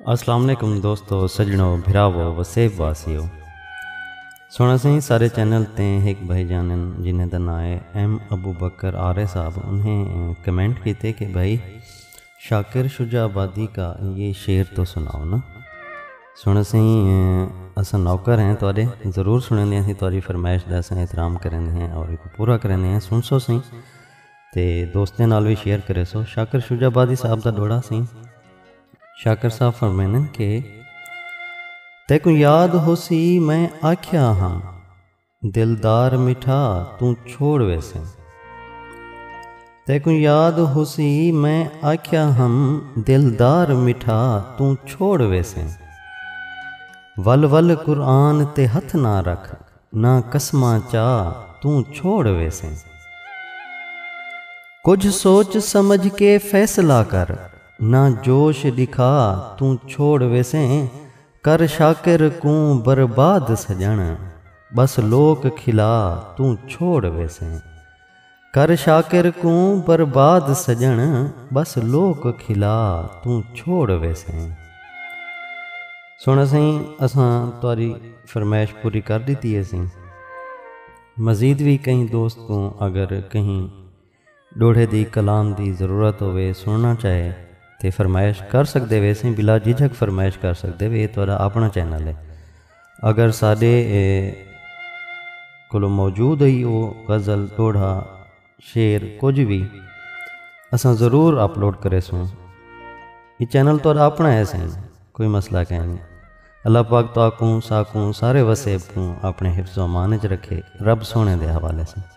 السلام علیکم دوستو سجنو بھراو وسیب واسیو سونا سہی سارے چینل تے ایک بھائی جانن جنہیں دا نام ہے ایم ابو بکر آرے صاحب انہیں کمنٹ کیتے کہ بھائی شاکر شجاع آبادی کا یہ شعر تو سناؤ نا۔ سن اسیں اساں نوکر ہیں تہاڈے ضرور سنیندے ہیں اسیں تہاڈی فرمائش دا اساں احترام کریندے ہیں اور ایکوں پورا کریندے ہیں سن سو سیں تے دوستیں نال وی شیئر کرے سو شاکر شجاع آبادی صاحب دا ڈوہڑا سیں شاکر صاحب فرمیندن کہ تیکوں یاد ہوسی میں آکھیا ہاں۔ دلدار مٹھا توں چھوڑ ویسیں۔ تیکوں یاد ہوسی میں آکھیا ہم دلدار مٹھا توں چھوڑ ویسیں۔ ول ول قرآن تے ہتھ نہ رکھ نہ قسماں چا توں چھوڑ ویسیں۔ کجھ سوچ سمجھ کے فیصلہ کر نہ جوش ݙکھا توں چھوڑ ویسیں۔ کر شاکر کوں برباد سڄݨ ٻس لوک کھلا توں چھوڑ ویسیں کر شاکر کوں برباد سڄݨ ٻس لوک کھلا توں چھوڑ ویسیں۔ سوہݨا سئیں اساں تہاݙی فرمائش پوری کر ݙتی ہیسی مزید وی کہیں دوست کوں اگر کہیں۔ ݙوہڑے دی کلام دی ضرورت ہووے، سݨݨا چاہے تے فرمائش کر سڳدے ویسیں بلا جھجھک فرمائش کر سڳدے وے اے تہاݙا آپݨا چینل اے اگر ساݙے کولوں موجود ہئی او غزل ݙوہڑا شعر کجھ وی اساں ضرور اپلوڈ کریسوں اے چینل تہاݙا آپݨا اے سئیں کوئی مسئلہ کائنی اللہ پاک تہاکوں ساکوں سارے وسیب کوں آپݨے حفظ و امان اچ رکھے رب سوہݨے دے حوالے سئیں۔